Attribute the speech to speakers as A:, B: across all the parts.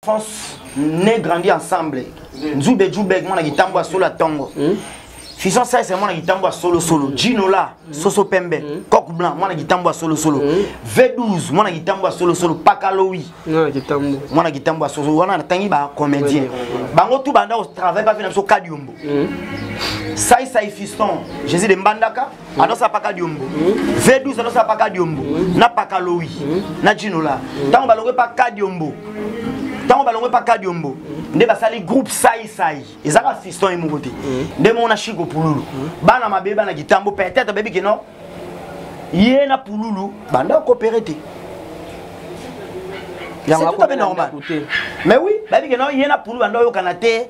A: France ne grandi ensemble nzube jubeg mwana kitambo ya solo ya ntongo hmm? fison saise mwana kitambo ya solosolo jinola hmm? soso pembe hmm? coq blanc mwana kitambo ya solosolo v12 mwana kitambo ya solosolo pakalowi mwana kitambo ya solosolo wana natangi bacomédien bango tu banda kotravaille bafe na biso kadiombo saisai fiston jésus de mbandaka anosala paka diombo v12 anosala paka diombo na paka lowi na jinola ntango balongwe paka diombo ntango balongwe paka diombo nde basali groupe saisai eza kaka fiston ye moko te nde moko na shiko pululu bana mabe bana kitambo peut-être bayebi ke non ye na pululu banda okopere te yango akope normal mais oui bayebi ke non ye na pululu banda oyokana te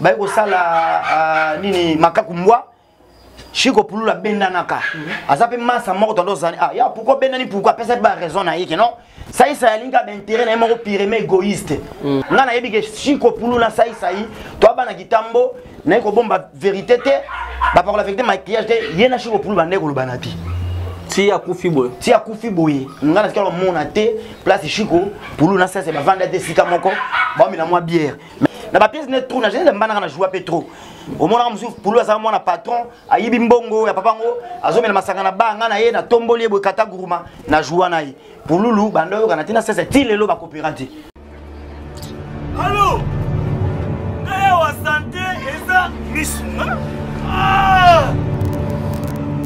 A: baye kosala uh, nini makaku mbwa shiko pulula abendanaka mhm. aza mpe masa moko tanda ozani ah, ya pourkui obendani pourkui apesa mpe baraison na ye ke non saisa yalingi abe intere na ye moko pireme égoïste mhm. ngai nayebi ke shiko pulu na saisai to abana kitambo naye kobomba vérité te bapakola vérité maquillage te ye na shiko pulu bandai kolobana te ti akufi boye ti akufi boye ngai natikala komona te place shiko pulu na saisa bavanda te esika moko baomela mwa biere na ba pièce ne trop na jela mbana na joie pe trop omonaka mosusu pulu azala mwana patron ayibi mbongo ya papa ngo azomela masanga na banga na ye na tomboli ye boye kata guruma na joie na ye pululu banda oyokana ntina sese ti lelo bakopera te alo
B: naya wa sante eza misu ah!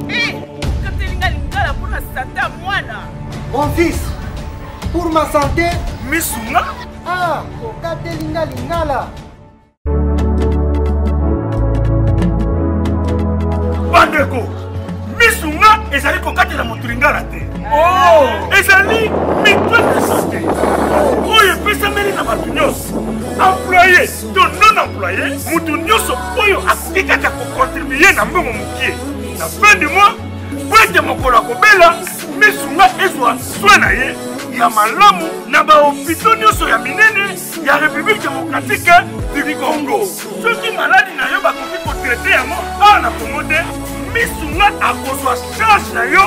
B: eh,
C: katelinga lingala mpona santa mwana mon fils
D: pour ma santé misunga
B: Ah,
D: okateli nga lingala.
B: Bandeko, misu nga ezali kokatela moto lingala te. Oh, ezali mitwe ya sante oyo epesameli na bato nyonso employe to non employe moto nyonso oyo akoki kaka kokontribue na mbongo mokie na fin du mois mpo ete mokolo akobela misu nga ezwa swe na ye ya malamu na bahopito nyonso ya minene ya république démocratique du congo soki maladi na yo bakoki kotraite yango awa na congo te misu nga akozwa charge na yo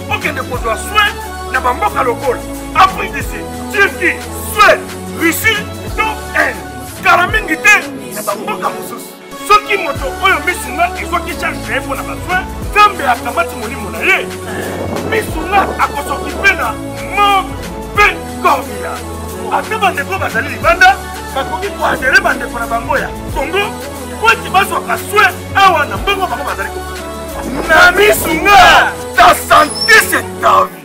B: okende kozwa swe na bamboka lokola afrique du sud turquie suède russie to inde kala mingi te na bamboka mosusu soki moto oyo misu nga ezwaki charge na ye mpo na basoin nzambe akamati molimo na ye misu nga akosokipe na mort mpe corvila ata bandeko bazali libanda bakoki koadere bandeko na bango ya kongo mpo ete bazwaka soin awa na mbongo bango bazali na misu nga ta sante se tavi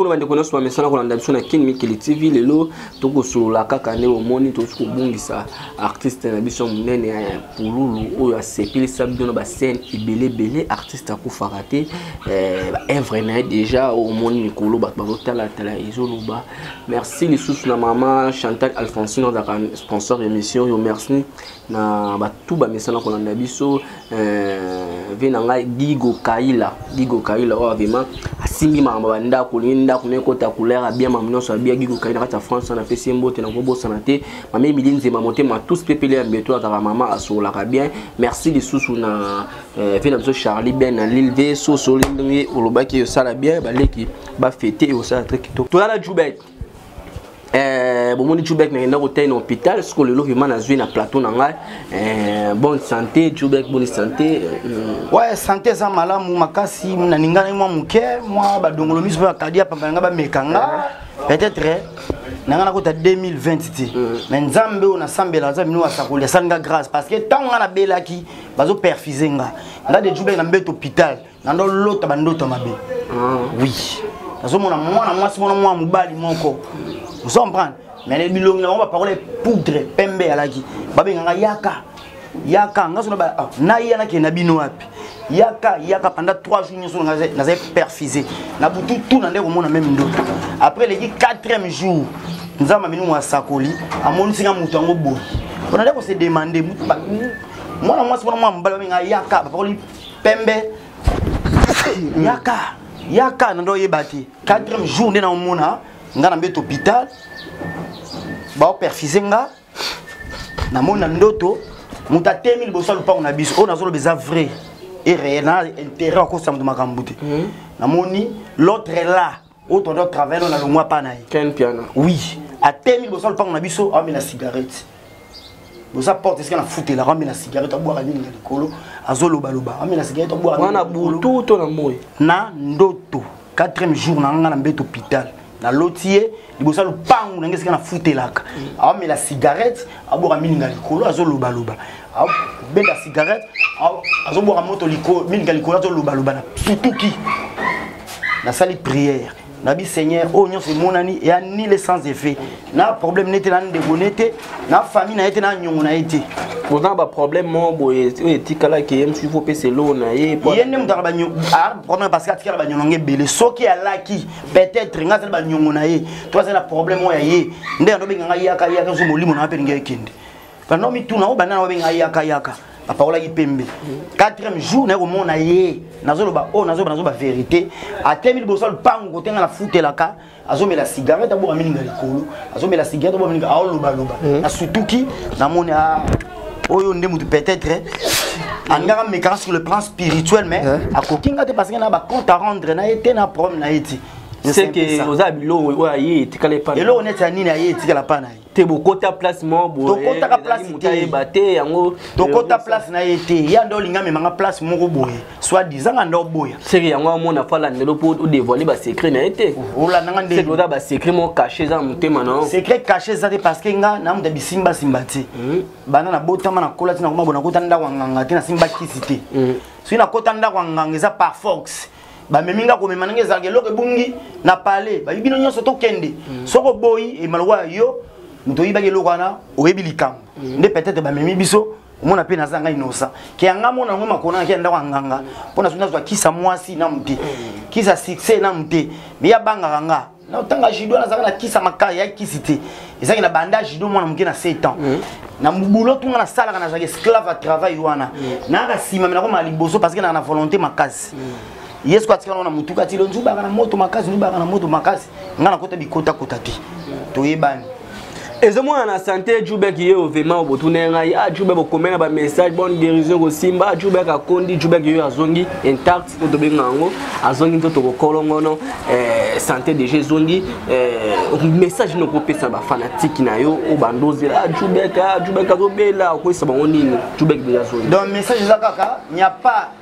B: kuna bandeko nyonso
E: bamesana kolanda biso na kin mikili tv lelo tokosolola kaka nde omoni tokoki kobungisa artiste na biso monene ya eh, pululu oyo asepelisa bino na bascene ebele ebele artiste akufaka te eh, baevre na ye déjà omoni mikolo bato bazotalatala ezoloba merci lisusu na mama chantal alphonsine azalaka sponsor ya émission oyo merci na bato bamesana kolanda biso Euh, vie na ngai gigo kaila gigo kaila oyo oh, avema asimbi makambo ya bandako olingi ndako na ekota couleur abia mamo nyonso abia gigo kaila kati ya france wana apesi ye mbote nakobosana te mama emili nzema motema tous pepele ya mbeto azalaka mama asololaka bien merci lisusu na euh, vie na biso charlie ben na lille ve sosoli ndenge olobaki osala bien baleki bafete osala tre kitoko toya na jubek Eh, bomoni jubek nakenda kotai na hôpital siko lelo vraimen nazwi na plateau na ngai eh, bonne santé jubek boni santé mm. ouais santé
A: eza malamu makasi naninganaki mwa moke mwa badongolo miso mpe bakadi ya pamba na ngai bameka nga peut-être eh, na ngai nakota 2020 te mm. mais nzambe oyo nasambela aza bino asakoli asali nga grâce parce que ntango ngai nabelaki bazoperfuse nga nga de jubek na mbete hôpital nando lota ba ndoto mabe ah. oui nazomona mwana mwasi mwana mwana mobali moko ozo comprendre mais bilongi na bango baparole poudre pembe alaki babenganga yaka yaka nga sona ah, naya nakende na bino wapi yaka yaka panda 3 jours nyonso nazali perfise na butu tu na nde komona meme ndoto après eleki 4e jour nzambe amini mwa asakoli amonisi nga moto yango boye mpona nde kose demande mwana mwasi wana mwa mobali babenga yaka bapakoli pembe yaka yaka na ndo oyeba te quatrième jour nde naomona nga na mbeto hôpital baoperfise nga namoni na ndoto moto atemi liboso ya lopango na biso oyo nazoloba eza vrai et réel na intérêt akosa moto makambo te hmm. namoni l'autre là oyo tondi otravaille na longwa mpa na ye ken piana oui
E: atemi
A: liboso lopango na biso aomela cigarette boza porte esika na futelaka amela cigarette abwaka nini na likolo azolobaloba amela cigarette abwakawana butu to
E: na moi na ndoto
A: 4e jour na nga na mbete hôpital naloti ye liboso ya lopango na ngai esika na futelaka aomela cigarette abwaka mininga likolo azolobaloba abenda cigarette azobwaka moto mininga likolo azolobaloba na sutuki nasali prière nabi seigneur oyo nyonso emonani eya nile sans effet na problème nete na ndeko nete na famille na ye te na nyongo na ye te oza na baproblème
E: moko boye oyo etikalaki ye mosusu fo pesa eloo na ye ye nde moto aka
A: problème parce que atikala banyononga ebele soki alaki peut-être nga azali banyongo na ye to azali na problème oyo ya ye nde yango obenga ngai yaka yaka so molimo na yo mpe lingi ekende bando mituna oyo banda na obenga ngai yaka yaka apakolaki pembe quatrième jour naye komona ye nazoloba oyo oh, nazoba nazoba verité atemi liboso ya lupango kote ngai nafutelaka azomela cigarette aboka mininga likolo azomela cigarette aboka mininga aolobaloba hmm. nasutuki namoni a ah, oyo nde mutu peut-être eh, angaka mekaka sur le plan spirituel mais eh. akoki nga te parce que na ba compte à rendre na ye te na problème na ye ti seke
E: oza biloko oyo aye etikala epa eloko neti ya nini aye
A: etikala pa na ye te bokota place
E: moko boyetokotaka place
A: te yango
E: tokota place na
A: ye te ya nde olinga memanga place moko boye soit disant nga ndo boya seke yango amona fala
E: ndelo po o dévoiler ba secret na été ola nanga ndelo seke oza
A: ba secret mo
E: caché za mutema na secret caché za te parce
A: que nga na muta bisimba simba te hmm. bana na botama na kola tina koma bona kota ndako nganga te na simba kisi te hmm. soki na kota ndako nganga eza par force bamemi nga komema ndenge ezalaka eloko ebungi na pale bayi bino nyonso tokende hmm. soki oboyi emalokola yo moto oyibaki eloko wana oyebi likambo nde peut-être bamemi biso omona mpe naza ngai nosa ke ya ngai mona yango makonaki ya ndako ya nganga mpo nasoki nazwa kisa mwasi na mote kisa succès na mote meya bangaka nga notanga judo nazalaka na kisa makasi ya kisi te ezalaki na banda judo mwana moke na 7 ans mm. na boulot tunga nasalaka nazalaka esclave ya travail wana mm. nayaka nsima me nakomaka liboso parce que naka na volonté makasi mm. yesu atikala na motuka ti lonzubaka na moto makasi nzubaka na moto makasi ngai nakota bikotakota te toyebani ezomona
E: na sante jubek ye ovema botuna ye ngai ah jubek okomela bamessage bonne guérison ekosimba ah, jubek akondi jubek yo azongi intact oyo tobenga yango azongi nto tokokolongono eh, sante deja ezongi eh, message nini okopesa bafanatike na yo oyo bandozela ah, jubek ah, jubek azobela okoyisa bango nini jubek deja azongi donc message eza kaka
A: nya pas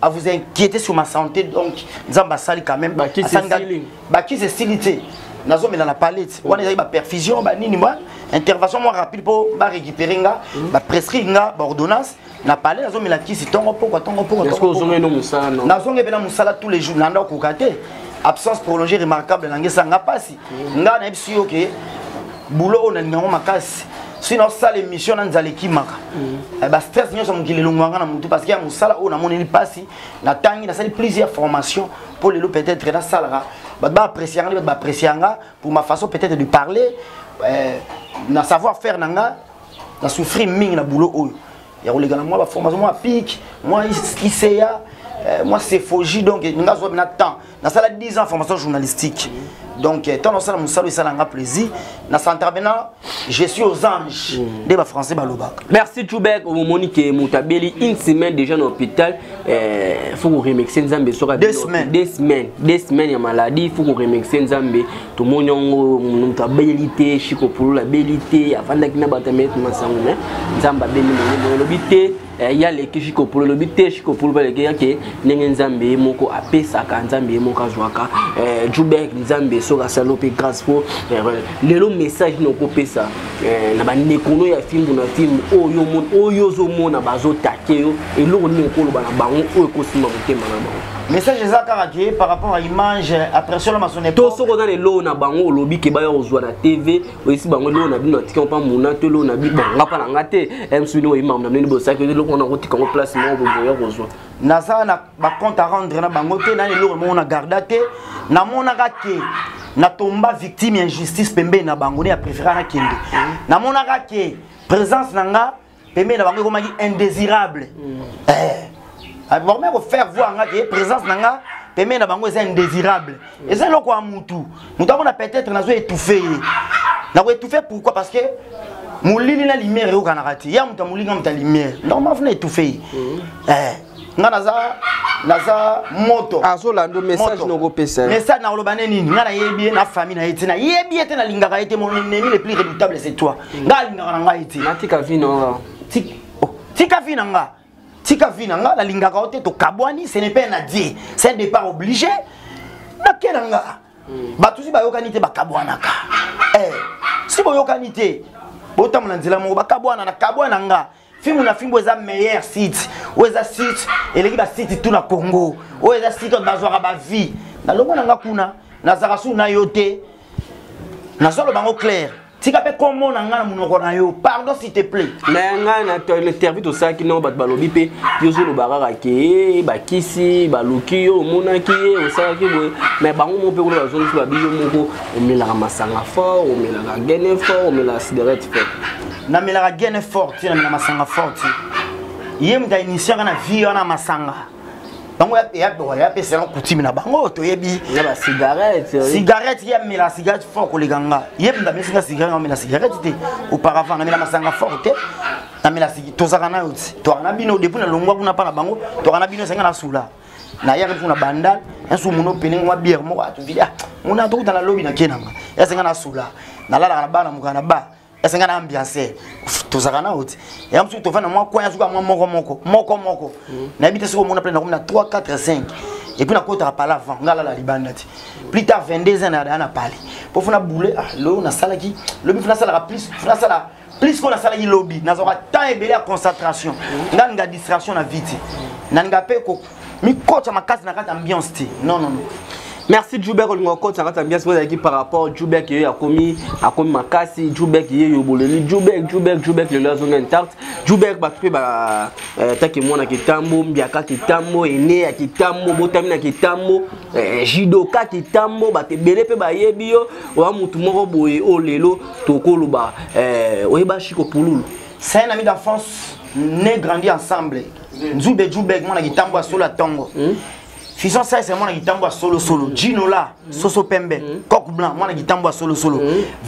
A: à vous inquiéter sur ma santé donc nzambe asali quand même
E: bakisi
A: esili te nazomela na palette wana ezali baperfusion banini mwa intervention mwa rapide mpo barécupere nga mhm. baprescrit nga baordonnance na palais nazomela kisi ntongo mpokwa ntongo
E: mpokwanazonge mpe na mosala tous
A: les jours nanda okoka te absence prolongée remarquable nangesa nga mpasi mhm. nga nayebisi yo ke boulot oyo nalinga yango makasi soki naosala émission na nzala ekimaka eh, bastress nyonso ya mokili elongwanga na motu parce que ya mosala oyo namoneli mpasi natangi nasali plusieurs formation mpo lelo peut-être nasalaka bato baapprécie yanga nde bato baapprécie yanga pour ma façon peut-être de parler eh, na savoir faire na nga na souffrir mingi na boulot oyo ya koleka na mwa baformation mwa pike mwa iseya mwa sephogie donc nga azwa bina temps nasala 10 ans formation journalistique donc eh, ntango nasala mosala esala nga plaisir na centrabena je suis aux anges mm. nde bafrançais balobaka merci tubek
E: omomoni ke moto abeli une semaine déjà na hôpital eh, faut koremercie nzambe soki deux semaines
A: deux semaines ya
E: maladie faut koremercie nzambe tomoni yango moto abeli te chikopolola abeli te afandaki na bato ya maître masango me nzambe abeli molimo elobi te Eh, ya leki shikopolo lobi te shikopolo baleki yake ndenge nzambe ye moko apesaka nzambe ye moko azwaka eh, jubek nzambe soki asali mpe grâce po eh, lelo message nini okopesa na bandeko no ya fimbu na fimbu oyo ozomona bazotake yo eloko nini okoloba na bango oyo ekosimba motema na bango message eza kaka ke
A: par rapport à image après solo masone to soko oza na eloo na
E: bango olobi ke baya kozwa na tv oyisi bango eloko na bino atika mpa muna to eloko na bino nga mpa na nga te msuni oyi makambo na bino bosaki eloko wana kotika ngo place moko boboya kozwa naza na
A: bacompte a rendre na bango te nani eloko moko na garda te namonaka ke natomba victime ya injustice pembeni na bango nde ya préféra nakende namonaka ke présence na nga pembeni na bango ekomaki indésirable mm. eh. ah, bakomaki kofaire voir nga ke présence na nga pembeni na bango eza indésirable mm. eza eloko ya mutu motu amona peut-être nazo étouffe ye nakoétouffe pourquoi parce que molili na lumière eyokanaka te ya moto ya molili na moto ya lumière donc mafuna étouffe ye mm. eh. nga naza naza moto azolanda message
E: nokopesa message nakoloba ne nini
A: nga nayebi ye na famille na ye te nayebi ye te nalingaka ye te mon ennemi le plus redoutable c'est toi nga alingaka na ngai te natika vi na nga
E: oh,
A: tika vi na nga tika vi na nga nalingaka yo te tokabwani ce n'est pas un adie c'est un départ obligé nakela nga hmm. bato si bayokani te bakabwanaka eh, si boyokani te botambola nzela moko bakabwana nakabwana nga fimbu na fimbu eza meilleur site oyo eza site eleki basite tout na congo oyo eza site oyo bazwaka bavie nalongo na nga kuna nazalaka suu na yo te nazoloba yango claire tika mpe kombo na ngai na monoko na yo pardon s'il te plaît mais ngai na
E: interview tosalaki nao bato balobi mpe yo ozoloba kaka ke eh, bakisi baluki yo omonaki ye eh, osalaki boye mais bango moko mpe kuna bazongisi babi yo moko omelaka masanga fort omelaka gene fort omelaka siderete fort namelaka
A: gene forti namela masanga forti ye moto ainitiaka na vie wana masanga bango yapesaka kutime na bango toyebi
E: cigarette
A: ye amela cigarette fort koleka nga ye moto amesinga cigarette amela cigarette te auparavant namela masanga fort te namela tozaka nayo ti toaka na bino depuis nalongwa kuna mpa na bango toaka na bino esenga nasula nayaki kuna bandal enso mono pelengi mwa biere moko atuvili ah, mona tokutana lobi na kenanga esenga nasula nalalaka na bana mokana na ba esenga na ambiance tozalaka na oti ya mosuku tofandi na mwa kwani azuka mwa moko moko moko moko mm. nayebi te soki omona mpe nakomi na 3 4 5 epuis nakotaka pala avant ngai alala libanda te plus tard 22 ans naya na pale mpo fona boule ah, lo nasalaki lobi fona asalaka plus fona asala plus ko nasalaki lobi nazwaka temps ebele ya concentration mm. nga ninga distraction na vie te na ninga mpe mikotya makasi na kati ya ambiance te non non non merci
E: jubek olinga okotisa kati ambiance mpo ezalaki par rapport jubek yeyo akomi akomi makasi jubek yeyo boleli jubek jubek jubek lelo azonga intacte jubek bato mpe bataki eh, mwana kitambo mbiaka kitambo ene ya kitambo botami na kitambo eh, jidoka kitambo bato ebele mpe bayebi yo oya motu moko boye oyo oh, lelo tokoloba eh, oyeba shiko pululu saye na mi
A: d'enfance ne grandi ensemble nzube jubeg mwana kitambo ya solo ya ntongo hmm? fison saise mwana kitambo ya solosolo jinola hmm. soso pembe hmm. coq blanc mwana kitambo ya solosolo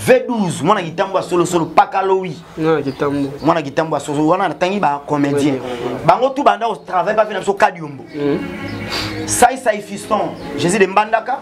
A: v12 mwana kitambo ya solosolo pakalowi mwana kitambo ya solosolo wana natangi bacomédien bango tu banda kotravaille bafe na biso kadiombo saisai fiston jésus de mbandaka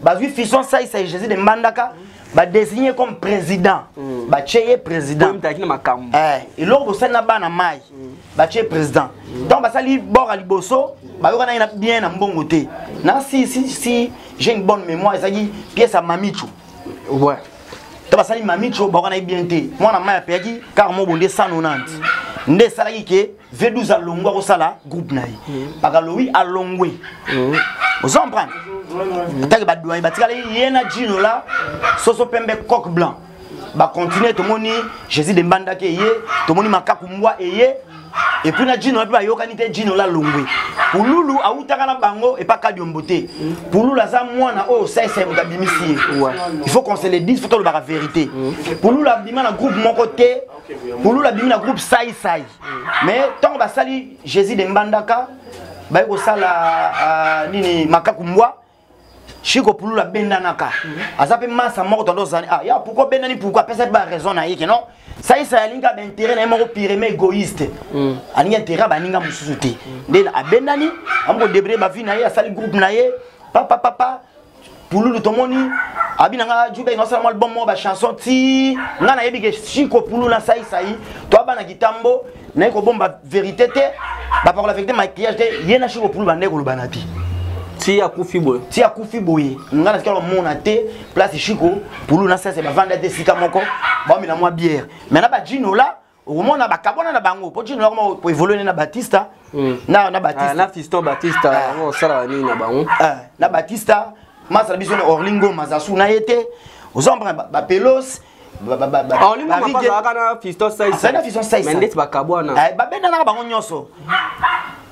A: bazwi fison saisa ye jésus de mbandaka badesigne comme président mm. batye ye président eh, eloko bosali na bana mai mm. batye ye président mm. donc basali bora liboso bayokana ye na bien na mbongo te na si si si j'ai une bonne mémoire ezalaki pièce ya mamichu ouais.
E: to basali
A: mamichu bayokana ye bien te mwana mai apeyaki kaka mobonde 190 nde esalaki ke V12 alongwe akosala groupe na ye mm. pakalowi alongwe mm. ozo comprendre mm. atake badoyen batikali ye na jino la soso pembe coque blanc bacontinue tomoni jésus de mbandaki eye tomoni makaku mbwa eye epuis na jino la mpe bayokani te jino la longwe pululu awutaka na bango epa kadiombo te pululu aza mwana oyo sese moto abimisi ye il faut qu'on se le dise fo tolobaka vérité pululu abima na groupe moko te Pululu abimi na groupe Sai Sai. Mais ntango basali Jésus de Mbandaka baye kosala uh, nini makaku mbwa Chico Pululu abendanaka. Aza mpe masa moko tando ozali. Ah, ya pourquoi bendani pourquoi apesa ba raison na ye ke non. Sai Sai alingi aba intérêt na ye moko pire mais égoïste. Mm. Alingi intérêt baninga mosusu te. Nde abendani, amoko débrouiller ba vie na ye, asali groupe na ye. Papa papa pululu tomoni abi na nga juda ino asala mwa album moko bachanson ti nga nayebi ke siko pululu na saisai to abana kitambo naye kobomba verité te bapakola verité maquillage te ye na siko pululu bandai koloba na bi ti akufi
E: boye ti akufi boye nga natika komona
A: te place shiko pulu na sese bavanda te esika moko baomela mwa biere mai na bajinola okomona bakabwana na bango mpo jino nakoma koevolue na batista hmm. na na batista ah, na fiston batista ah.
E: yango osalaka nini na bango ah, na batista
A: masa na biso na orlingo mazasu na ye te oza comprendre bapelos
E: babendanaka bango nyonso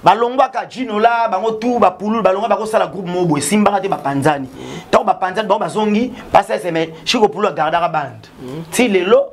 A: balongwaka jinola bango tu bapululu balongwa bakosala groupe moko boye esimbaka te bapanzani ntango bapanzani bango bazongi paseseme shikopulu agardaka bande hmm. ti lelo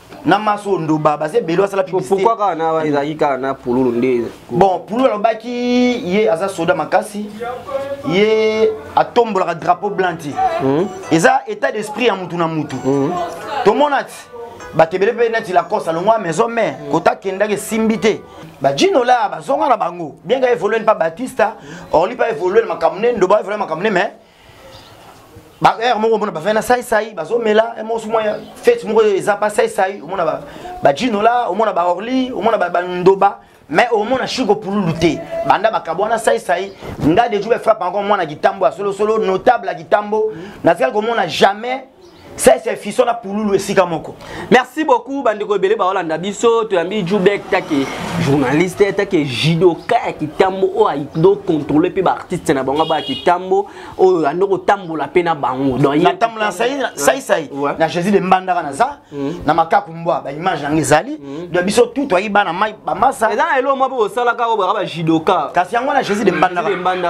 A: na maso ndoba baza ebele basala pourquoi kaka na ezalaki
E: kaka na pululu nde bon pululu alobaki
A: ye aza soda makasi ye atombolaka drapeau blanc ti hmm? eza état d'esprit ya mutu na mutu hmm? tomona ti bato ebele mpe neti lacoste alongwa maison mare hmm. kota akendaki esimbi te bajino la bazonga na bango bien ka evolue mpa batista orli mpa evolue na makambo ne ndoba evolue na makambo ne mais ba heure moko mona bavanda saisai bazomela eh, moko sumwa ya fete moko eza mpa saisai omona bajinola omona baorli omona bandoba mais omona shiko pululu te banda makabo wana saisai nga deju bafrappe encore mwana kitambo ya solosolo notable ya kitambo natikali komona jamais sese efiso na pululu esika moko merci beaucoup
E: bandeko ebele baolanda biso toyambi jubek take journaliste take jidoka ya kitambo oyo aido controle mpe baartiste na bango baya kitambo oyo ando kotambola mpe na bango donnatambola
A: saisai na jésus de mbandaka naza mm. na makaku mbwa ba image yango ezali mm. de biso tout toyi bana mai ba masa eza na eloko moko osalaka
E: oyo ba judoka kasi yango na Jésus de
A: mbanda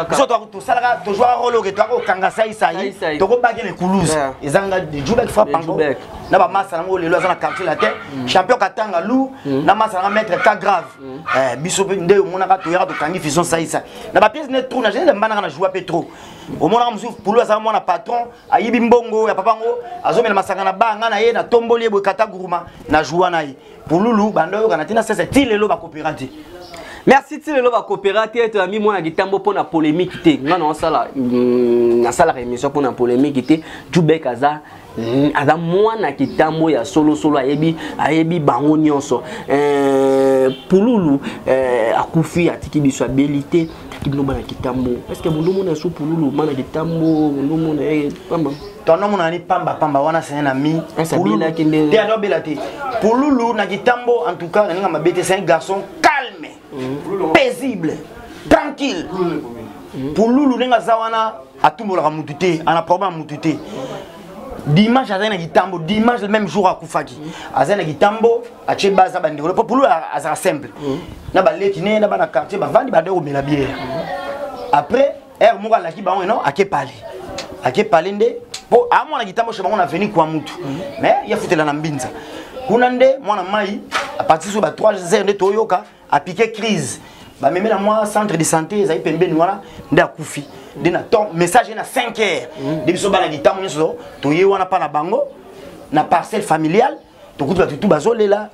A: biso to to salaka to jouer rôle que to ko kanga sai sai to ko bague le coulouse eza nga de jubek frappe bango na ba masa nango lelo aza na quartier latin mm. champion katanga lou mm. na masa na maître ka grave mm. eh biso pe nde omonaka to yaka to kangi fison sai sai na ba pièce ne trop na Jésus de mbanda na jouer pe trop omonaka mususu pulu aza mwana patron ayibi mbongo ya papa ngo azomela masanga na banga na ye na tomboli ye boye kata guruma na joua na ye pululu banda oyokana ntina sese ti lelo bakopera te merci ti
E: lelo bakopera te ete yambi mwana kitambo mpo na polémique te nga naosala mm, nasalaka émission mpo na polémique te jubek aza mm, aza mwana kitambo ya solosolo ayebi ayebi bango nyonso eh, pululu eh, akufi atiki biso abeli te Ki bino bana kitambo. Est-ce que bondo mona sous pululu bana kitambo bondo mona eh pamba. Tono mona ni
A: pamba pamba wana c'est un ami. Pululu na kende. Te ado bela te. Pululu na kitambo en tout cas na ninga mabete c'est un garçon calme, mm. paisible, tranquille. Mm. Pululu ninga za wana atumbolaka mutu te, ana problème mutu te. Dimanche azali na kitambo, dimanche le même jour akufaki. Azali na kitambo. atie base na bandeko mpo pulu azala simple mm. na baleki ne na bana quartier bavandi bande komela biere mm. après heure moko alaki bango eno ake pale ake pale nde mpo amona kitambo chez bango na veni kwa mutu mm. mais ye afutela na mbinza kuna nde mwana mai apartir so ba 3 heures nde toyoka apike crise bamemela mwa centre de santé ezali pembeni wana nde akufi nde na temps message ye na 5 heures nde biso bana kitambo nyonso toye wana mpa na bango na parcelle familiale tokuti bato tu bazolela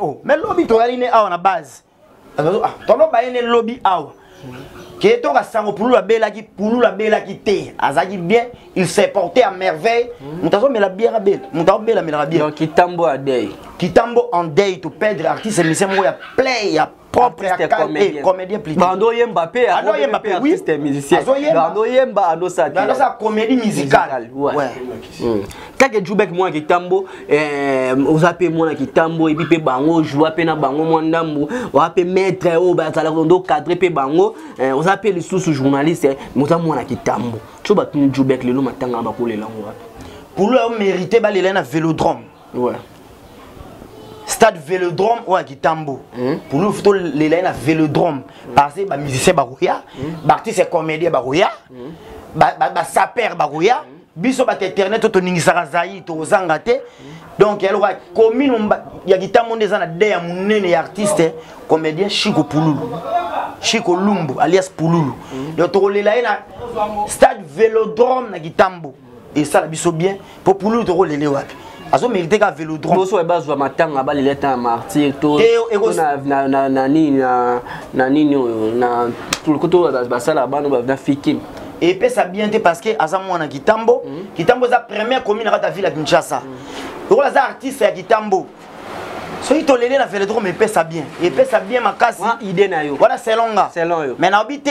A: oh, me lobi toyali ne awa na base ah, tono baye ne lobi awa ke toka sango pululu abelaki pululu abelaki te azalaki bien il s'est porté à merveille hmm. moto azomela bière abela moto aobelamela bière kitambo adei
E: kitambo en
A: dei to perdre artiste émission moko ya play ya propre ya kale comédien plutôt bando yemba pe ya ando
E: yemba pe oui artiste musicien azo yemba bando yemba ando sa te ando sa comédie
A: musicale ouais
E: hmm. kaka jubek mwana kitambo eh, oza mpe mwana kitambo ebi mpe bango joua mpe na bango mwa ndambo oza mpe maître oyo oh, bazalaka ondo cadre mpe bango eh, oza mpe lisusu journaliste eh, oza mwana kitambo so batuni jubek lelo matanga bakolela yango wapi
A: pulu
E: yo
A: mérite balela na vélodrome
E: ouais.
A: stade velodrome oyo ya kitambo hmm? pulufu tolela ye na velodrome hmm. parce que bamusicien bakoya hmm. baartiste comédien bakoya basaper bakoya biso bato internet oyo toningisaka zai tokozanga te donc ya lokola commune ya kitambo nde eza na de ya monene ya artiste comédien chiko pululu chiko lumbu alias pululu donc tokolela ye na stade velodrome na kitambo esala biso bien mpo pululu tokolele wapi azo mérite ka vélodrome boso ba zwa matanga
E: ba lele ta martyr to na na na na nini na na nini oyo na tout le côté ba sala bano ba na fikin et puis ça bien
A: te parce que aza mwana kitambo mhm. kitambo za première commune à ta ville à Kinshasa mhm. lokola za artiste ya kitambo soki tolele na vélodrome epesa bien epesa bien makasi idée na yo wana
E: selonga selon
A: yo mais naobi
E: te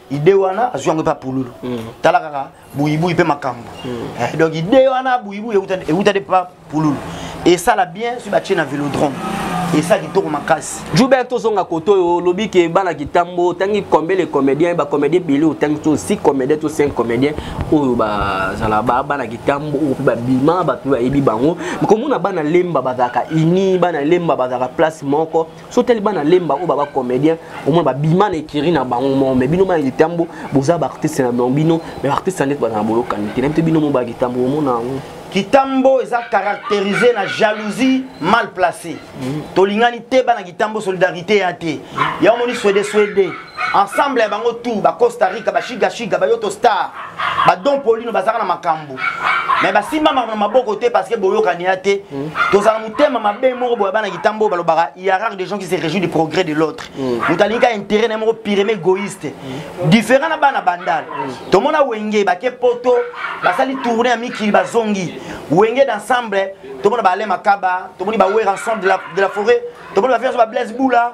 A: ide wana azwi yango epa pululu mm. tala kaka buyibuyi mpe makambo mm. eh, donc ide wana buyibuyi ewuta de pa pululu esala bien soki batye na velodrome esa kitoko makasi jubert tozonga koto
E: oyo olobi ke bana kitambo otangi combien le comédien bacomédien bele otangi to si comédien to cinq comédien oyo bazala bana kitambo oyo mpe babima bato mpe bayebi bango komona bana lemba bazalaka uni bana lemba bazalaka place moko so tali bana lemba oyo baba comédien omona babima na ekiri na bango moko mais bino bana litambo boza baartiste na bango bino mais baartiste nde bazala na bolokani te nayebi te bino mo balitambo omona yango kitambo
A: eza caractérisé na jalousie mal placée mm. tolingani te bana kitambo solidarité ya te yango moni swede swede ensemble ya bango tour ba costa rica bashiga shiga bayoto star badon polino bazalaka na makambo me basimbamaka na maboko te parce que boyokani ya te mm. tozala motema mabe moko boya bana kitambo oyo balobaka hiérarque des gens qui se réjouit du progrès de l'autre mm. moto alingi ka intérêt na ye moko pireme égoïste mm. différent na bana bandal tomona wenge bake poto basali tourne ya mikili bazongi wenge d'ensemble tomona baale makaba tomoni bawera ensemble de la forêt tomoni bafianso bablaise bula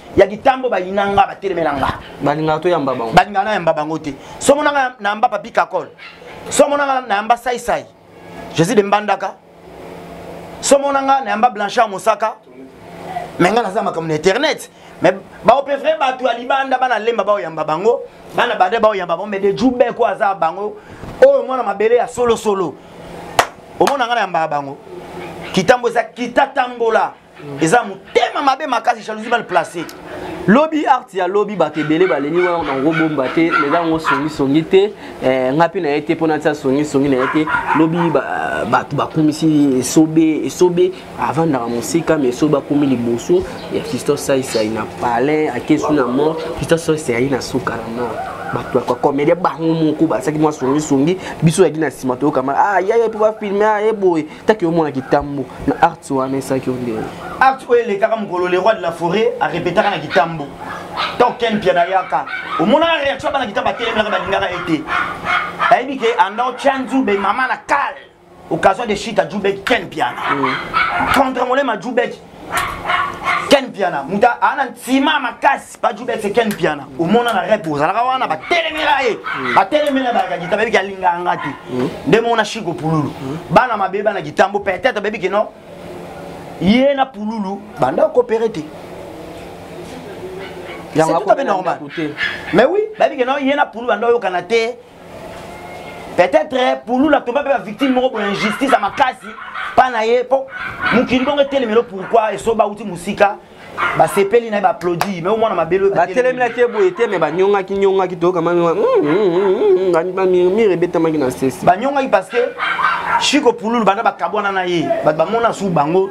A: ya kitambo bayina nga batelemela nga balingaka toyamba
E: bango balingaka nayamba bango te
A: so monanga nayamba papi kakol so monanga nayamba saisai jésus de mbandaka so monanga nayamba blanchard mosaka me nga naza makambo na internet me baoprefere bato ya libanda bana lemba baoyamba bango bana bade baoyamba bango me de jube ko aza bango oyo mwana mabele ya solosolo omona nga nayambaka bango kitambo eza kitatambola eza motema mabe makasi jalousie mal placé lobi art
E: ya lobi bato ebele baleli wana bango bomba te eza yango songisongi te eh, nga mpe na ye te mpo natia songisongi na ye te lobi bato bakumisi esobe esobe avandaka mosika ma esobe akomi liboso ya christophe saisai na palais akesu na mort christophe saisai ayi na suka na mort bato ya komedia bango moko basaki mwa songisongi biso yaki na nsima toyokama ah yaya mpo bafilme aye ah, boye taki omona kitambo na arts wana esaki ondele arts oyo elekaka
A: mokolo le roi de la forêt arepetaka na kitambo to ken mpia na yaka omonaka reaction ya bana kita batelemelaka balingaka ye te ayebi ke anda otya nzube mama na kale occasion de shita jubek ken mpiana mm. contre molema jubek ken mpiana moto aana ntima makasi bajubese ken mpiana omona na rep ozalaka wana batelemela ye mm. batelemela bayaka gita bayebi alingaka nga te mm. nde mona shiko pululu mm. bana mabe bana gitambo peut-être bayebi kino ye na pululu banda okopere te yango akope normal mais oui bayebi kino ye na pululu banda oyokana te peut-être eh, pulula toba mpe bavictime moko boye injustice ya makasi mpa na ye mpo mokili bongo etelemelo pourkui eso bauti mosika basepeli na ye baaplaudi me omwana mabele batelemelaki ye boye
E: te me banyongaki nyongaki toyokamamire mm, mm, mm, ebetamaki na sesi banyongaki parce que
A: chiko pululu banda bakabwana na ye bato bamona su bango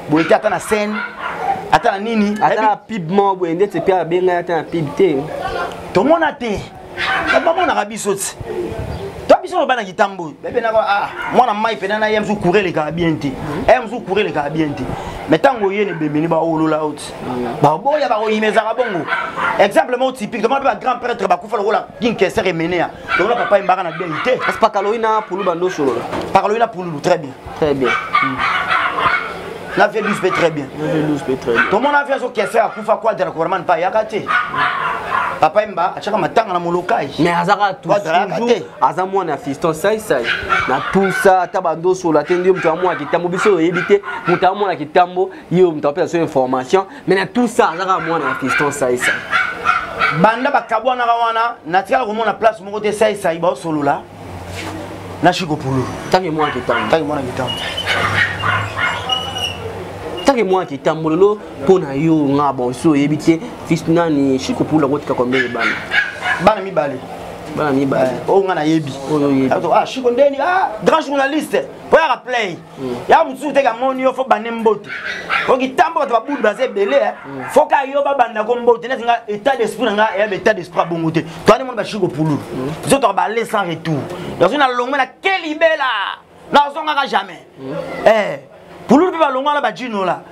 A: boye te ata na scène ata na nini ata na pib moko
E: boye ndeti mpe abengaki ata na pib te
A: tomona
E: te
A: bamonaka
E: biso ti
A: to biso no bana kitambo oyo bebenaka ah, mwana mai mpena na ye mosusu coure elekaka bien te ye mosusu coure elekaka bien te mai ntango oye na ebembeni baolola yo ti baboya bakoyima ezalaka bongo exemple moko typique tomona mpe bagrand prêtre bakufa lokola king keser emenea tomona papa yembaka na dei te pakaloi na pulu
E: bando osolola pakaloi na pululu
A: très bien très bien na vie 12 mpe très bien tomona avi azokese akufa quadra kubarman mpe ayaka te papa emba atyaka matanga na molokai mais azaka tusuju
E: aza mwana ya fiston saisai na tusa ata bandosola te ndio moto ya mwana kitambo biso oyebi te moto ya mwana kitambo yo moto apesa so information mais na tusa azaka mwana ya fiston saisai
A: banda bakabwanaka wana natikala komona place moko te saisai baosolola na shiko pulu tange mwana kitambo
E: tange mwana kitambo tange mwana kitambo lelo mpo na yo nga bon so oyebi te fils nani shiko pulu akotika kombele bana bana
A: mibale bana mibale oyo nga nayebi oyo oyebi ah shiko ndeni ah grand journaliste oyo aka play mm. ya mosusu teke amoni yo fo bande mbote oki ntango bato babulu baza ebele eh. mm. fo ka yo babanda ko mbote neti nga état d'esprit na nga eyaba état d'esprit abongo te toani moni bashiki kopululu mm. biso toka bale sans retour nazo na longwe na kelibela nazongaka jamais eh, pululu mpe balongwa na bajinola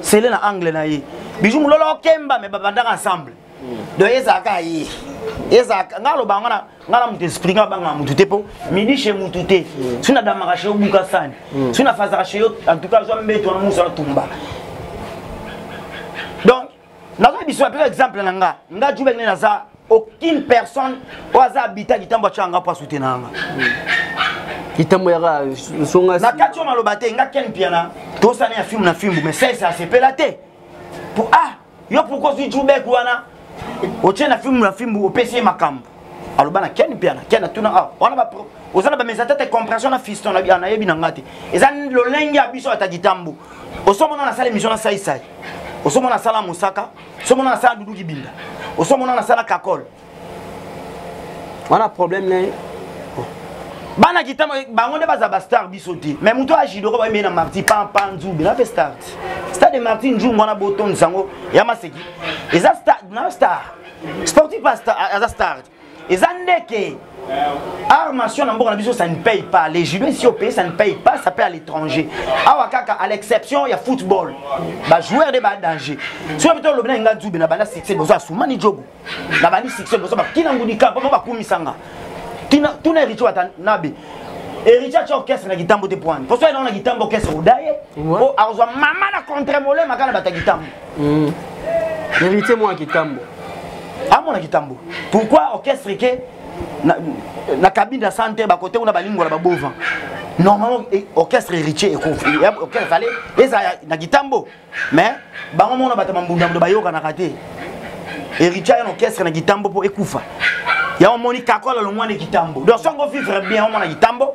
A: sele na angle na ye biju mololo okemba me babandaka ensemble donc ezalaka ye ezalaka ngai aloba yango ngai na moto esprit ngai abangaka motu te mpo midi chez motu te soki nadamaka chez obuka sani hmm. soki nafazaka chez yo en tout cas azwa mbeto wana mosu atumba nazoki biso apesa exemple na nga nga jubek nde naza aucune personne oyo aza abita kitambo atya nga mpo asute na yanga
E: kitambo yaka songa na kati oyo maloba te
A: nga ken piana tosana ya filme na fimbu mais sese asepela te po ah yo pourkoi ozwi jubek wana otie na fimbu na fimbu opesi ye makambo aloba na ken mpe ana ken atuna awa wana ba oza na bamesa tete compression na fiston nayebi na ngai te eza lolenge ya biso ata kitambo osomona nasala émission na saisai osomona nasala mosaka osomona nasala dudu kibinda osomona nasala kakole
E: wana problème na ye
A: bana kitama bango nde baza bastar biso te mais moto ya jidoko bayemei na marti pampa nzube na mpe star stade de marti njungu wana botondisa yango ya maseki eza star na star sportif aza star eza ndeke armation na mboka na biso ça ne paye pas les joueurs si opeye ça ne paye pas ça paye à l'étranger awa kaka à l'exception ya football bajoueur nde badanger soki bito olobi na nga nzube na banda succès bozo asumani jogo na bandi succès bozo bakina ngudika mpo bakumisanga tuna ericho ata nabe héritier atya orchestre na kitambo te poani mposo ye nango na kitambo orchestre odaye mpo akozwa mama na contre molema kaka na bato ya kitambo mm.
E: héritier mwana kitambo amona ah,
A: kitambo pourquoi orchestre ke na, na cabine ya santé bakote kuna balingola babova normalement eh, orchestre héritier orchestre fale eza na kitambo mais bango mona bato bambundambundo bayokanaka te héritier aya na orchestre na kitambo mpo ekufa yango omoni kakola longwani kitambo donc songo vivre bien omona kitambo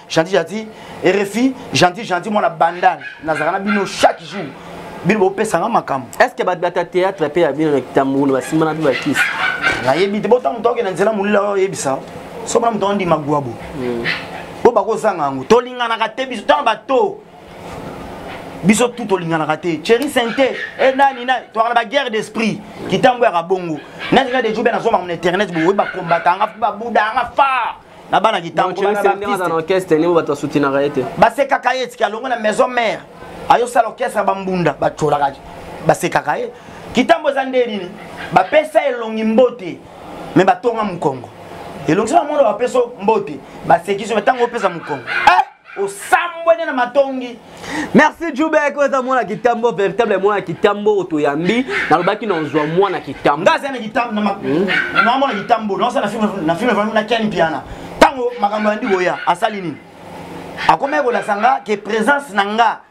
A: gentil gentil rfi gentil gentil mwana bandal nazalaka na bino chaque jour bino bopesa nga makambo est ce que bato bata théâtre
E: mpe ya bino na kitambulo basimbana mpe bakisi nayebi te
A: bota moto akende nzela molila oyo oyebisa sobona moto andima gwabo hmm. po bakozanga yango tolinganaka te biso ntango bato biso tu tolinganaka te cheri sente e nani nani tozalaka na baguerre d'esprit kitambo yaka bongo nalinga dejobe nazomaka na internet boye bakombata yanga babuda yanga far na bana
E: kitambo basekaka ye tiki
A: alongo na maison mare ayosala orchestre bambunda bacolaka basekaka ye kitambo eza nde nini bapesa elongi mbote me batonga mokongo elongi soki bamono bapesa mbote basekisi me ntango opesa mokongo eh! osambwene na matongi merci
E: jubek oza mwana kitambo véritable mwana kitambo otoyambi nalobaki na ozwa mwana kitambo nga aza na kitambo
A: hmm? na mwana kitambo naosa na filme vami na ken piana ntango makambo yandi koya asali nini akomaki kolasa nga ke présence na nga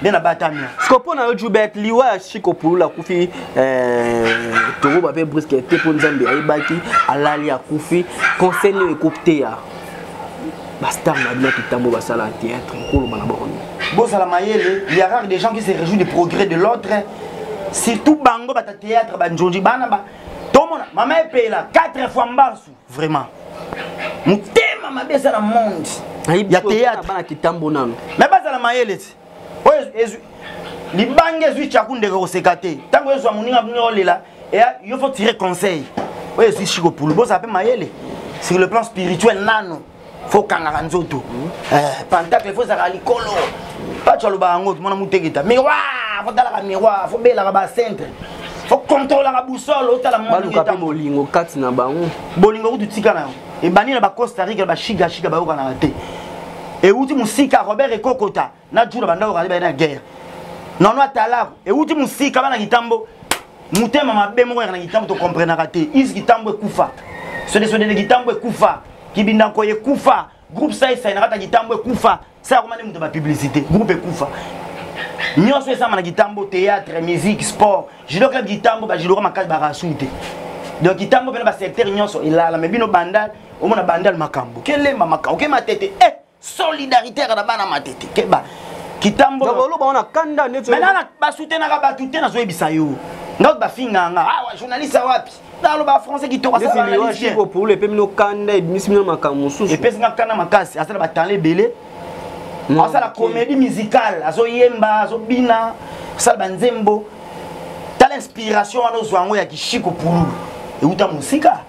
A: nde na batamia siko mpo na yo jubert
E: liwa ya chiko pulula akufi eh, tokoba mpe briske te mpo nzambe ayebaki alali akufi conseil nini ekoteya bastar na bino kitambo basala théâtre ekoloba na bango bozala mayele
A: il y a rare des gens qui se réjouit du progrès de l'autre surtout bango bata théâtre banjonji bana ba tomona mama epela 4 fois mbansu vraiment motema mabe eza na monde ya théâtrebana kitambo nano
E: me bazala mayele
A: ti oyo libanga ezwi chaku ndeke koseka te ntango ezwa moninga bino olela eya yo fo tire conseil oyo ezwi shikopulu bozala mpe mayele sur le plan spirituel nano fo kangaka nzoto eh, pantacle fo ezalaka likolo paco alobaka yango tomona muteketa miroir fo talaka miroir fo belaka bacentre fo controlaka busole otala baluka mpe bolingo
E: kati na bango bolingo kutu tika na
A: yango ebandi na bacosta rica bashigashika bayokanaka te euti mosika robert ekokota na jula bandako kali baye na guerre nono atalako ewuti mosika bana kitambo motema mabe moko yaka na kitambo tokomprenaka te isi kitambo ekufa sodesodele kitambo ekufa kibindako ekufa groupe saisai na kata kitambo ekufa sa yakoma nde moto bapublicité groupe ekufa nyonso esamba na kitambo théâtre musique sport judo club kitambo bajudoka makasi bakasui te donc kitambo mpena basecteur nyonso elala me bino bandal omona bandal makambo kelemba makambo kematete e eh! solidaritaire na bana matete keba kitambo baloba wana
E: kanda neti maintenant basutenaka
A: bato te nazoyebisa yo ngai bafinga nga awa ah, journaliste wapi naloba français kitoko asaopulu epe
E: mino kanda ebimisi mino makambo mosusu epesi nga kanda
A: makasi asala batala ebele asala comédie musicale azoyemba azobina asala banzembo tala inspiration wana ozwa yango ya kishiko pululu euta mosika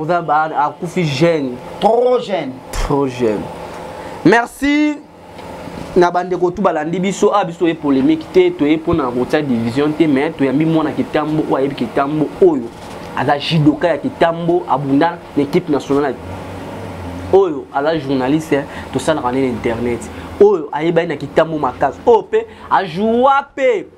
A: oza
E: akufi jeune trop jeune
A: trop jeune
E: merci na bandeko tu balandi biso a ah, biso toye polémique te toye mpona kotia division te mais toyambi mwana kitambo oyo ayebi kitambo oyo aza judoka ya kitambo abunda na équipe nationale oyo aza journaliste tosalaka nde na internet oyo ayebani na kitambo makasi oyo mpe ajoua mpe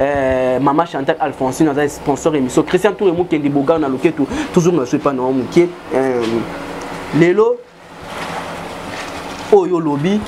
E: Euh, mama chantal alphonsine aza sponsor émission christian toure mokendi bogar na loketu toujours na soepa na yo moke euh, lelo oyo olobi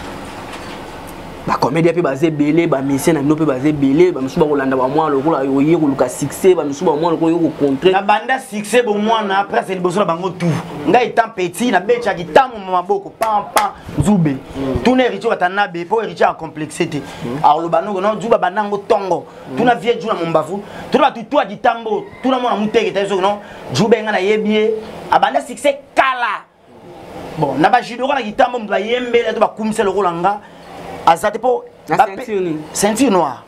E: bacomédia mpe baza ebele bamisien na bino mpe baza ebele bamisusu bakolanda bamwana lokola oye koluka succès bamisusu bamwana lokola oye kocontre na banda succès
A: bomwana après ase liboso na bango tout ngai etant petit nabetaki ntango ma maboko pampa nzube tuna héritier watanabe mpo héritier acomplexe te akoloba noko na juba banda yango ntongo tuna vie juna mombavu tuna bato twa ditambo tuna mwana moteke taye soki no juba enga nayebi ye abanda succès kala bon na bajudoko na kitambo moto bayembela to bakumisa lokola nga aza te mpo ceinture noire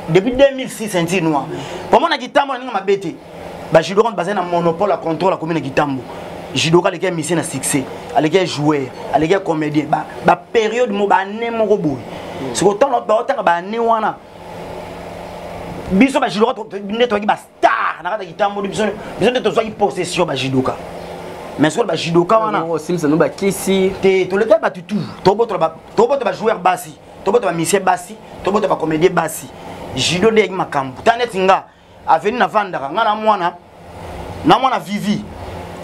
A: depuis 2006 ceinture noire pomona kitambo na ninga mabe te ba judoka bazali na monopole ya contrôle akomi na kitambo judoka aleki ya misie na succès aleki ya joueur aleki ya comédien baperiode mo baane moko boye mm. siko ntango baotanga baane wana biso bajudoka nde tozwaki bastar na kati ya kitambo biso nde tozwaki possession bajudoka mais soki bajudoka wana osimisano bakisi
E: te toleki ya bato
A: tout tobota bajoueur basi tobota bamisie basi tobota bacomédien basi judo nde yaki makambo ta neti nga avenue na vandaka nga na mwana na mwana vivi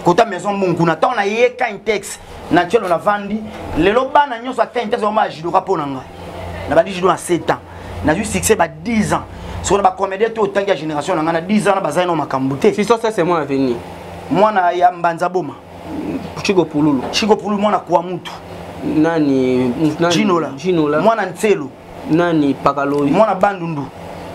A: kota maison mbongo kuna ntango naye kintex na ncelo na vandi lelo bana nyonso ya kintex bama ya judoka mpo na ngai na bandi judo na 7 ans nazwi succès ba 10 ans soko na bacomédien to otangi ya génération na ngai na 10 ans na bazali na makambo te sisosese mwana avenir
E: mwana ya
A: mbanza boma chiko
E: pululu chiko pululu mwana kwa
A: mutu nani
E: jinola mwana nselu
A: nani
E: pakaloyi mwana bandundu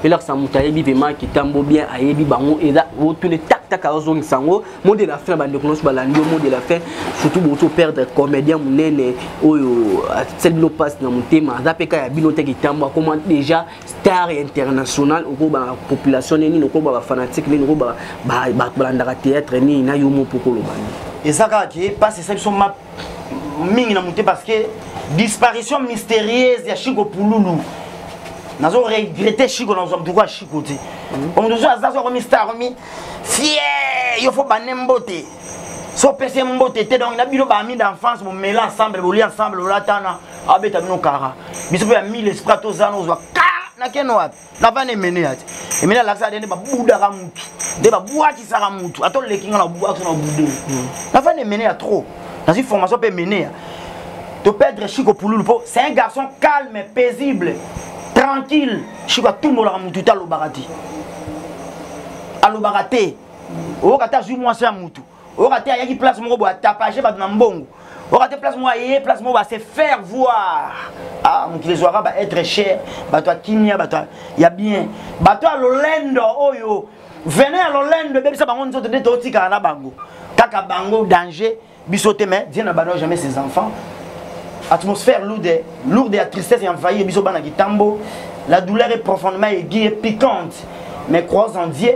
A: elakisa moto
E: ayebi pema kitambo bien ayebi bango eza otune taktaka ozongisa yango mot de la fin bandeko nyonso balandi yo mot de la fin surtout bozo perdre comédien monene oyo asali bino mpasi na motema aza mpe ka ya bino te kitambo akoma déjà star international okoba population nini okoba bafanatique nini okoba bato balandaka théâtre nini na yo mopokoloba eza kaka ke mpasi
A: esali biso mingi na mote parce que disparition mystérieuse ya chico pululu nazo regrette chico nazwa moto kwa chico te omoto so aza so akomi star akomi fie yo fo bande mbote so opesi mbote te donc na bino baami d'enfance bomela ensemble bolia ensemble bolatana abeta bino kara biso mpe ya mille esprit tozana ozwa ka na keno wapi navanda emeneya te emene alakisaka te nde babudaka mutu nde babwakisaka mutu ata oleki nga na bwakisa na bude hmm. navanda emeneya trop nazwi formation mpe emeneya to perdre chiko pululu mpo c'est un garçon calme paisible tranquille chiko atumbolaka mutu te alobaka te alobaka te oyoka te azwi mwasi ya mutu oyoka te ayaki place moko boye atapage bato na mbongo oyoka te place moko aye place moko base faire voir ah, mokili ezwaka ba être cher bato ya kimia bato ya bien bato ya lolendo oyo vene ya lolendo ebebisa bango nzoto nde totikala na bango kaka bango danger biso te mais dieu n'abandonne jamais ses enfants atmosphère lourde lourde ya tristesse envahie biso bana kitambo la douleur est profondément aiguë et piquante mais croise en dieu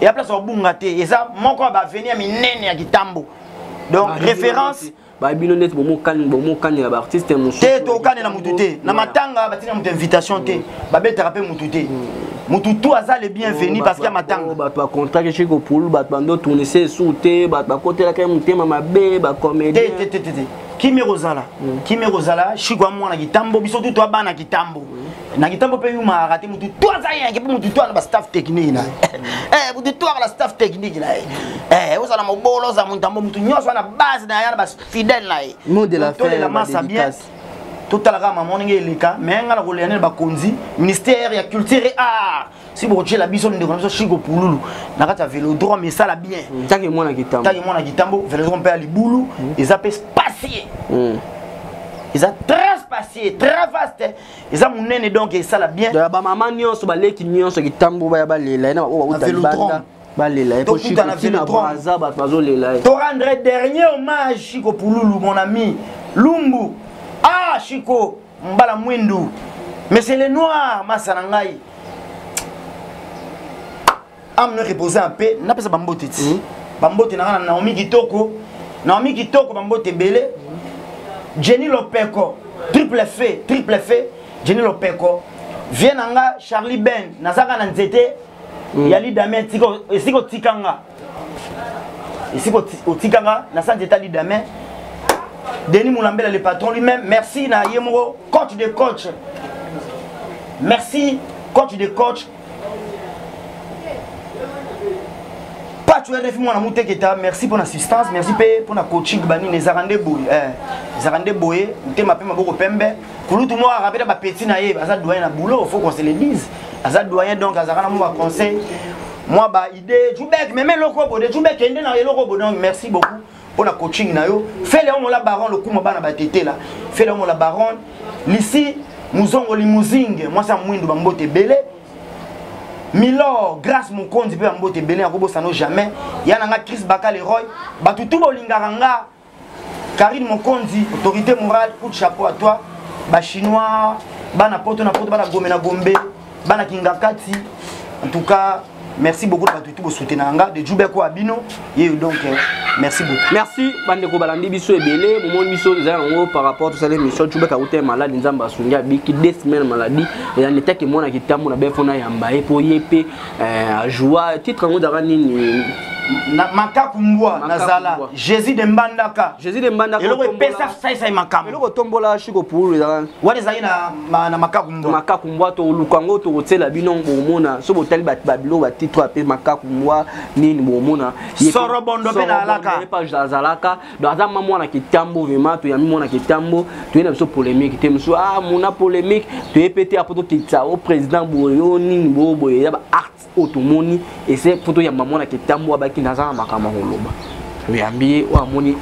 A: ya place obunga te eza moko ya baveni ya minene ya kitambo donc ah, référence babino neti
E: bomokanela baartiste mosusu te tokanela motu te
A: na matanga batika moto invitation te mm. babetaka mpe motu te motu mm. tu aza le bienvenu oh, parce ya matanga oh, bato bacontrake chez
E: kopulu bato bando tournise esu te bato bakotelaka motema mabe bacomédien te te te te
A: kimi ekozala mm. kimi ekozala shiko ya mwana kitambo biso tu toabana kitambo na kitambo mpe yuma arate mutu to aza yenge mpe mutu to ana bastaff technique na ye eh, mutu to akala staff technique na ye eh, ozala mobolo oza montambo mutu nyonso ana base na ye ana bafidèle na ye tolela
E: masa bien
A: totala kaka mama ndenge eleka me ngai na kolela nene bakonzi ministère ya culture et art si bokotyela biso ndeko na biso shiko pululu na kati ya velodrome esala bien mm. take mwana kitambo take
E: mwana kitambo velodrome mpe ya libulu
A: mm. eza mpe spacie mm. eza très spacie très vaste eza monene donc esala bien bamama nyonso baleki
E: nyonso kitambo baya balela ena baoyo bauta libanda
A: balela ye poshiko
E: tina
A: braza bato bazolela ye torendre dernier hommage shiko pululu mon ami lumbu ah shiko mbala mwindu mais c'est le noir masa na ngai ame no repose en paix napesa bambote ti hmm. bambote na nga na naomi kitoko naomi kitoko bambote ebele jenny lopeko triple fe triple fe jenny lopeko vie na nga charlie ben nazaka na nzete hmm. ya lidame esika otika nga esika otika nga na sa nzete ya lidame denis mulambela le patron lui-même merci na ye moko coach de coach merci coach de coach pacho rfi mwana muteketa merci mpona assistance merci mpe mpona coaching banini ezalaka nde boye eh, ezalaka nde boye motema mpe maboko pembe kulutu moko akaka mpe na bapeti na ye aza doyen na boulot faut qu'on se le dise aza doyen donc azalaka na mwa baconseil mwa baide jubek meme eloko bode jubek ende na eloko bode donc merci beaucoup mpo na coaching na yo fele omola baron lokuma bana batetela fele omola baron lisi muzongo limuzinge mwasi ya mwindu bambote ebele milor grace mokonzi mpe bambote ebele nakobosano jamais ya na nga cris baka leroy bato tu bolingaka nga karine mokonzi autorité morale coup de chapeau à toi bachinois bana poto na poto bana gombe na gombe bana kingakati en tout cas merci beaucoup na bato itu bosutenaka nga de jube kwa bino yeyo donc euh, merci beaucoup merci bandeko balandi
E: biso ebele momoni biso eza yango par rapport tosala émission jube kauta ya maladi nzambe asungi abiki de semaine maladi eza netaki mwana kitambo na befo na yamba ye mpo ye mpe euh, ajoua titre yango ezaka nini makaku
A: mbwa nazala jésus de mbandaka jésus de mbandaka eloko
E: epesa saisai
A: makambo eloko tombola shiko
E: pulu ezaka wana ezali na
A: na makaku mbwa makaku mbwa
E: toluka yango tokotiela bino bomona so botali bato babilo batitre ape makaku mbwa nini bomona sorobondo mpe
A: naalakaazalaka
E: donc aza ma mwana kitambo vraimen toyambi mwana kitambo toye na biso polémique te mosusu a ah, mona polémique toye mpe te apo tokitisa o oh, président boye o oh, nini boboye ya baarte oyo tomoni ese mpo toyamba mwana ketambo abaki naza na makambo ya koloba oyambi ye oyo amoni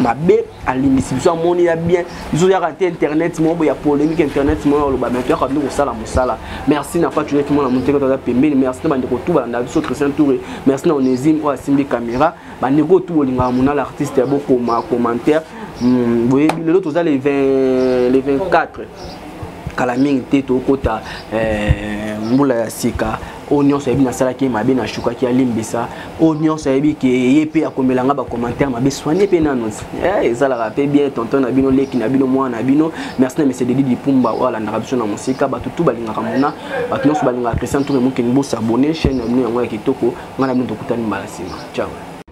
E: mabe alimbisi biso amoni ya bien biso yaka te internet moko boya polémique internet moko oloba me toyaka nde kosala mosala merci na fatu neti mwana moteke toza pembeni merci na bandeko tu balanda biso christian toure merci na onésime oyo asimbi caméra bandeko tu bolingaka monala artiste ya bokoma commentaire hmm, boyebi lelo toza le 24 kala mingi te tokota eh, mbula ya sika oyo nyonso ayebi nasalaki ye mabe nashukaki alimbisa oyo nyonso ayebi ke ye mpe akomela nga bacommentaire mabe soigne mpe nano eh, ezalaka mpe bien tonton na bino leki na bino mwana na bino merci na mese dedi lipumba oyo alandaka biso na mosika bato tu balingaka mona bato nyonso balingaka christian tour emokeni bosabone chaine na bino yango ya kitoko ngai na bino tokutani mbala nsima ciao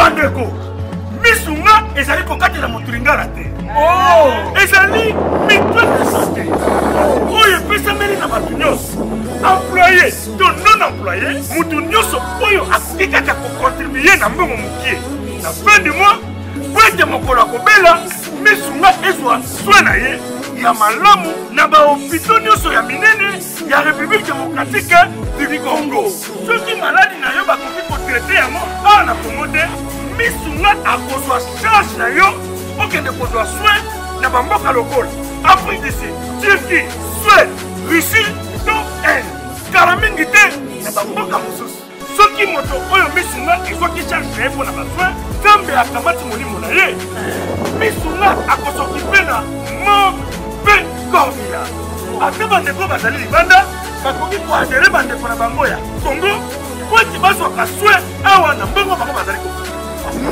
B: bandeko misu nga ezali kokatela moto lingala te oh! ezali mitwe misate oyo epesameli na bato nyonso employe to non employe moto nyonso oyo akoki kaka kokontribue na mbongo mokie na fin du mois mpo ete mokolo akobela misu nga ezwa swe na ye ya malamu na bahopito nyonso ya minene ya république démocratique du congo soki maladi na yo bakoki kotraite yango awa na congo te misu nga akozwa charge na yo okende kozwa soin na bamboka lokola afrique du sud turquie suède russie to inde kala mingi te na bamboka mosusu soki moto oyo misu nga ezwaki charge na ye mpo na basoin nzambe akamati molimo na ye misu nga akosokipe na mort mpe cornila ata bandeko bazali libanda bakoki koadere bandeko na bango ya kongo mpo ete bazwaka soin awa na mbongo bango bazali kokoki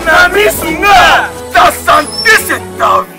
B: na misu nga ta sante se tavi